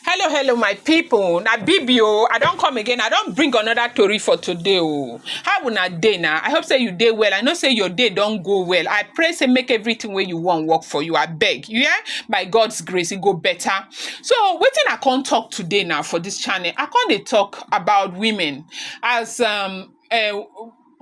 hello hello my people. na bibi o i don come again i don bring another tori for today o how una dey na i hope say you dey well i know say your day don go well i pray say make everything wey you wan work for you abeg you hear by god's grace e go better so wetin i come talk today na for this channel i come dey talk about women as um uh,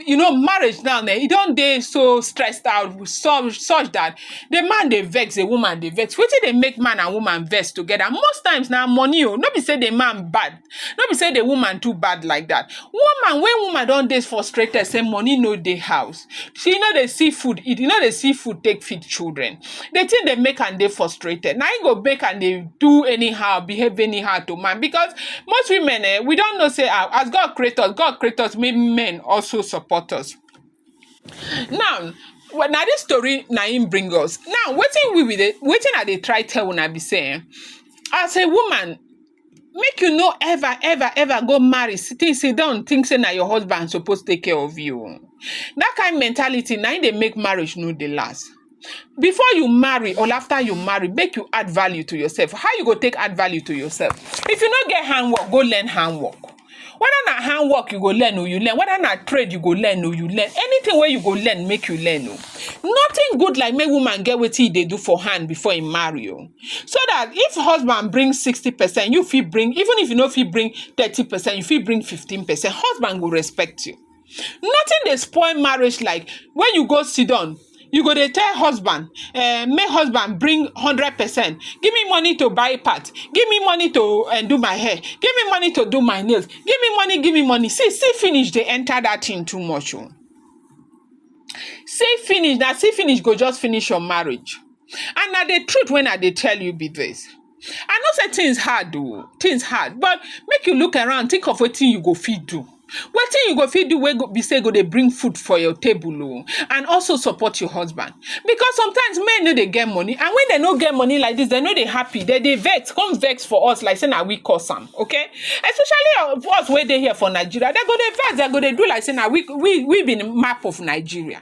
you know marriage now eh, e don dey so stressed out with some such that the man dey vex the woman dey vex wetin dey make man and woman vex together most times na money o no be say the man bad no be say the woman too bad like that woman when woman don dey frustrated say money no dey house she no dey see food eat e no dey see food take feed children the thing dey make am dey frustrated. Na im go make am dey do anyhow, behave anyhow to man because most women eh, we don know say ah, as God create us, God create us make men also support us. Now, well, na this story na im bring us. Now, wetin we we dey, wetin I dey try tell una be say eh, as a woman make you no ever ever ever go marry sit think sit down think say na your husband suppose take care of you o. that kind mentality na im dey make marriage no dey last before you marry or after you marry make you add value to yourself how you go take add value to yourself if you no get handwork go learn handwork whether na hand work you go learn or you learn whether na trade you go learn or you learn anything where you go learn make you learn o nothing good like make woman get what e they do for hand before he marry you. so that if husband bring sixty percent you feel bring even if you know if he bring thirty percent you feel bring fifteen percent husband will respect you Nothing dey spoil marriage like when you go sit down, you go dey tell husband, eh, make husband bring hundred percent, give me money to buy part, give me money to eh, do my hair, give me money to do my nails, give me money, give me money. See, see finish dey enter that thing too much. Oh. See finish, now see finish go just finish your marriage. And now the truth when I dey tell you be this. I know say things hard oh, things hard but make you look around think of wetin you go fit do. Wetin you go fit do wey go be say go dey bring food for your table oh and also support your husband because sometimes men no dey get money and when dem no get money like this dem no dey happy dem dey vex come vex for us like say na we cause am okay especially of us wey dey here for Nigeria dem go dey vex dem go dey do like say na we we we be the map of Nigeria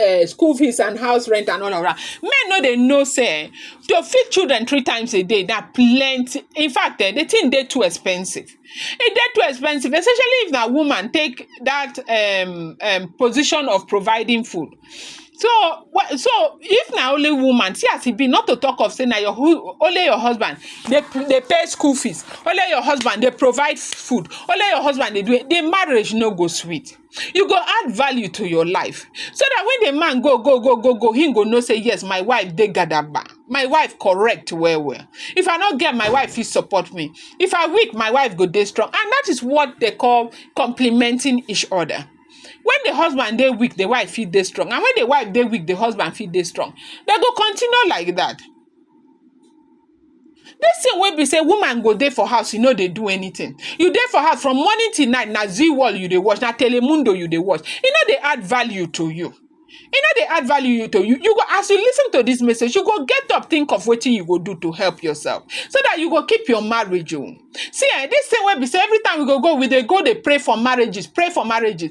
uh, school fees and house rent and all of that. Men no they know say to feed children three times a day that plenty. In fact, eh, the thing they too expensive. It they too expensive, especially if that woman take that um, um position of providing food. So wha- so if na only woman, see as e be, not to talk of say na your hu- only your husband dey p- dey pay school fees, only your husband dey provide food, only your husband dey do it, the marriage no go sweet. you go add value to your life so that when the man go go go go go he go know say yes my wife dey gadaba my wife correct well well if i not get my wife he support me if i weak my wife go dey strong and that is what they call complementing each other when the husband dey weak the wife fit dey strong and when the wife dey weak the husband fit dey strong they go continue like that This thing wey be say woman go dey for house, you no dey do anything. You dey for house from morning till night, na zee world you dey watch, na telemundo you dey watch. E no dey add value to you. E no dey add value you to you. You go as you listen to this message, you go get up, think of wetin you go do to help yourself so that you go keep your marriage. Oh, see eh, this thing wey be say every time we go go, we dey go dey pray for marriages, pray for marriages.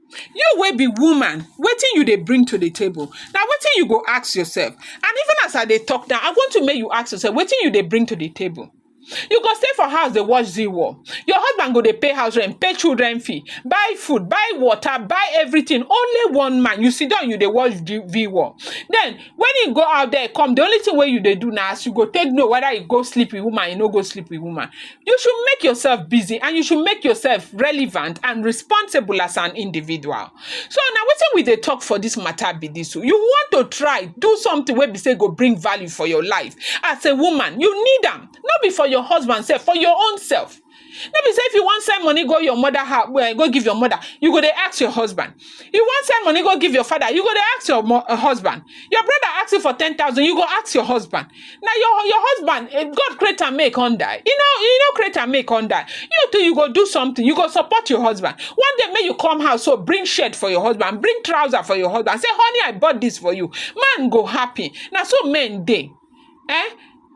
You wey be woman, wetin you dey bring to the table? Na wetin you go ask yourself. And even as I dey talk now, I want to make you ask yourself wetin you dey bring to the table. You go stay for house dey watch zee war. Your husband go dey pay house rent, pay children fee, buy food, buy water, buy everything. Only one man, you sit down, you dey watch the zee war. Then when he go out there come the only thing where you they do now is you go take know whether you go sleep with woman you no go sleep with woman you should make yourself busy and you should make yourself relevant and responsible as an individual so now what we they talk for this matter be this so you want to try do something where we say go bring value for your life as a woman you need them not be for your husband self for your own self No be say if you wan send money go your mother house, eh, go give your mother, you go dey ask your husband. You wan send money go give your father, you go dey ask your mo- uh, husband. Your brother ask you for ten thousand, you go ask your husband. Now your your husband, eh, God create am make on die. You know, you know create am make on die. You too, you go do something. You go support your husband. One day, may you come house, so bring shirt for your husband, bring trouser for your husband. Say, honey, I bought this for you. Man go happy. Now so men dey. Eh?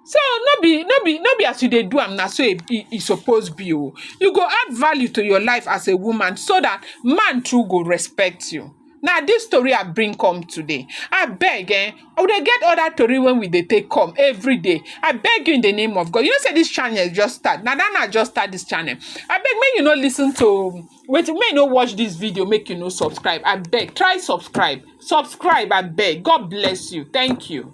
So no be no be no be as you dey do am na so e, e, e suppose be o. You go add value to your life as a woman so that man too go respect you. Na this story I bring come today. I beg eh, we dey get other tori when we dey take come every day. I beg you in the name of God. You know say this channel just start. Na that na just start this channel. I beg make you no listen to wait, make you no watch this video, make you no subscribe. I beg, try subscribe. Subscribe, I beg. God bless you. Thank you.